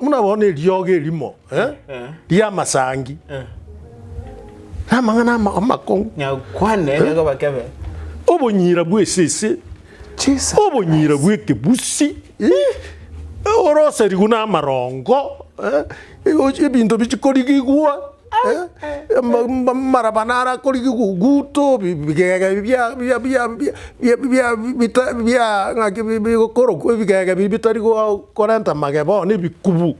Buna bono eriogo erimo eh, ri'amasangi namang'ana ama- amakong'u, Nyakwane nigo bakebe. obonyira bw'esese, Jesus. obonyira bw'ekebusi, eh, oroserigu namarongo, eh, ebinto bichikorigigwa Amarabana ara akorigi guto bigega ebi bia bia bia bia bia bita bia ng'aki bi bigokorokwa ebigega ebi bitari goa korenta mageba oo na ebikubu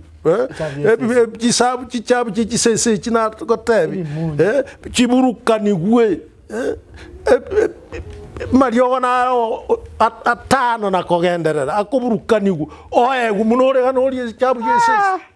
ebi bi chisabu chichabu chia chisesa echi nagotebi chiburukanigwe mariogo naro oo at atano na kogenderera akoburukanigwa oegwe buna ore iga norie echabu chia esese.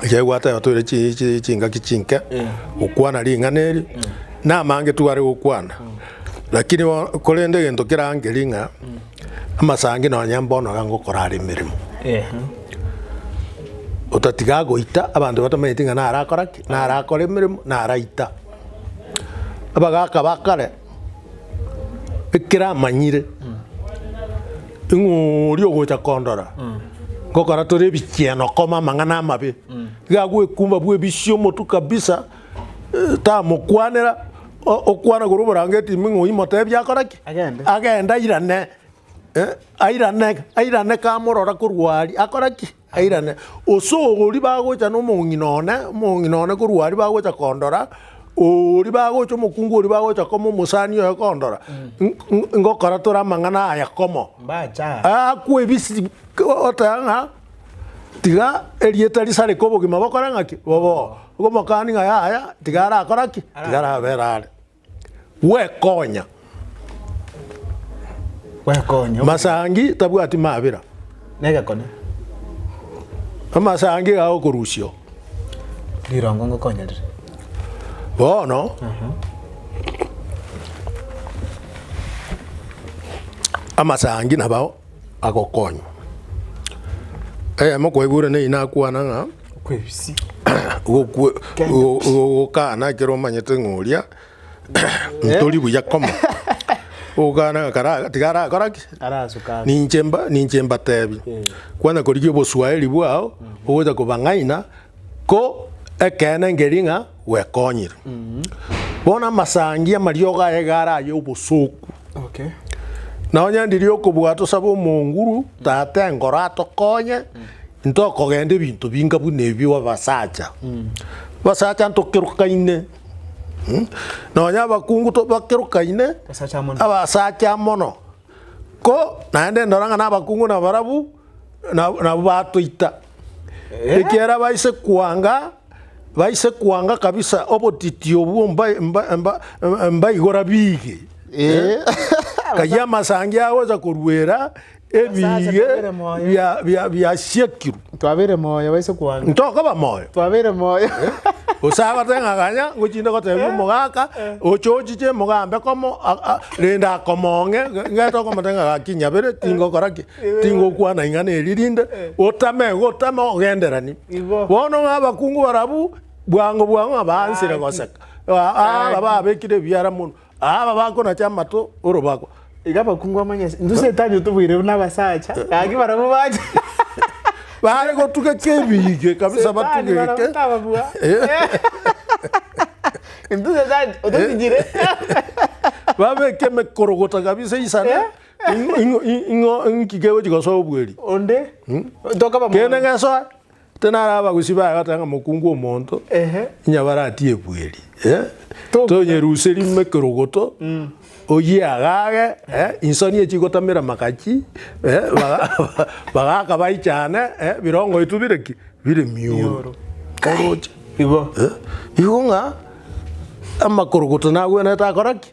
Ekiagera egwata yago toire chi- chi- chingaki chinke gokwana ring'ana eri, namangetu bare gokwana, lakini bono korende egento kerangeri ng'a amasangi nonye mbono iga ngokora are emeremo, otatiga agoita abanto batamanyeti ng'a nare akora ki, nare akore emeremo, nare aita. Abagaka ba kare. Ekero amanyire ng'a oria ogocha kondora ngokora tore ebicheno koma amang'ana amabe, iga agwekumba bw'ebisio omotu kabisa, tamokwanera, o- okwana korwa oborangeti ime ng'a oyimotebia akore ki? Agende. Agende airane, eh, airane airane kamorora korwa aria akore ki? Airane, gose oria bagocha nomong'ina one, omong'ina one korwa aria bagocha kondora, oria bagocha omokungu oria bagocha koma omosani oye kondora, ngokora tore amang'ana aya komo. Mbacha. Akwe ebisi oteba ng'a tiga erieta risareke obogima bokore ng'aki boboo. Omokani ng'a yaya tiga arakora ki tiga arabere are. Gwekonya. Gwekonya. Masangi tabwati mabera. Negekone. Amasangi ga okorusio. Rirongo ngokonya rire. Bono. Uh mhm. -huh. Amasangi nabao agokonywa. Eyemo kwaigure ne inakwana ng'a. Okwebisi. Gokwe- go- gokana ekero omanyete ng'a oria ntori buya komo ogokana ng'a kara- tiga arakora ki Arasukana. ninche mba- ninche mbatebi kwanya korigia oboswahili bwao ogocha kobang'aina ko ekeene nkeri ng'a gwekonyire. Bono amasangi amariogo aye iga are aye obosooku. Okay. Na onye ndirie okobua tosabe omonguru tata enkoro atokonye into okogenda ebinto binga buna ebi abasacha abasacha ntokerokaine mm, nonya abakungu to bakerokaine Basacha mono. abasacha mono ko naende ndora ng'a na abakungu nabarabu nab- nabwo batoita ekiera baise kwanga baise kwanga kabisa obotitio obwo mbaigora biige, ngayie amasangi agocha koruera ebiige biasiekirwe. Twabeire moyo baise kwanga. Ntokoba moyo. Twabeire moyo. Gose agote ng'a ganya ngochinde gotebia omogaka oche ochiche mogambe komo rende akomong'e ngete okomotebia ng'a gaki nyabere tingokora ki. tingokwana ing'ana eri rinde otame iga otame ogenderani Igo. bono ng'a abakungu barabwo bwango bwango ng'a baansire goseka Aa- aa, aba babekire ebiara mono Aa, aba bakonacha amato orobako Iga abakungu bamanye ase intwe Setani otobweire buna abasacha gaki barabwo bache bare gotugeka ebiige kabisa Setani barabwo batugeke tababua intwe Setani ototigire babeke emekorogota kabisa isana Ing'o inki kegochi gosoa obweri? Onde tokaba Kende mono. gesoa tinara abagusi baye bateba ng'a mokungu omonto Ehe. inyabare atie ebweri eh? Tobuya. tonyeruserie ime ekerogoto oyie agage eh? insoni echi igotamera amakachi eh? baga- bagaka baichane eh? birongo biaito bire ki bire miuru Miuru. oroche Igo. Eh? igo ng'a amakorogoto nagwenerete akora ki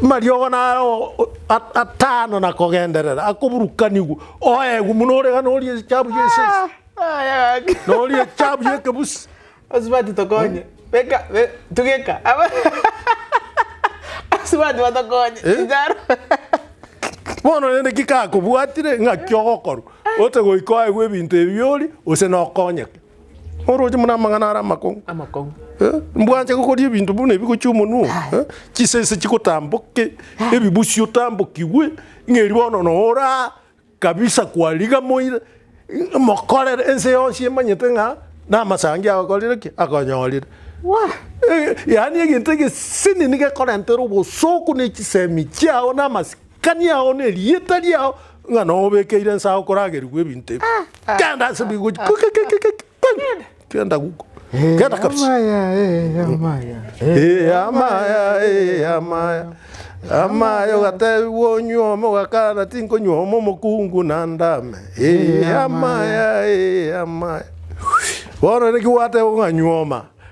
mariogo naro at- atano na kogenderera akoburukanigwa, oegwe buna ore gana orie echabu ya esese, na orie echabu ya ekebusi. Asubati tokonye. Beka, be, tugeka. Aba Asubati batokonye. Eh? Inchara. Bono rende ki kakobwatire ng'aki ogokorwa, ote goika oegwe ebinto ebi bioria, gose nokonyeke? Oroche buna amang'ana are amakong'u. Amakong'u. Eh, mbwanche gokoria ebinto buna ebi gochia omonwa. Eh, chisese chigotamboke, ebibusi otambokigwe, ng'eri bono nora kabisa kwariga moire. Eh, Mokorere ense yonsi emanyete ng'a namasangi agokorire ki? Akonyorire. Wah! Eh, yaani egento egesini niga ekorentera obosoku ne chisemi chiao na amasi Kania ao nerieta riao ng'a nobekeire ensa okoragerigwa ebinto ebi. Genda ase bigochi. Genda guko. Genda kabisa. Amaya, eh, amaya. Eh, amaya, eh, amaya. Amaya ogatebigwa onywe ome ogakana tinkonywa ome omokungu na ndame. Eh, amaya, eh, amaya. Bono naki gwatebwa ng'a nywa oma.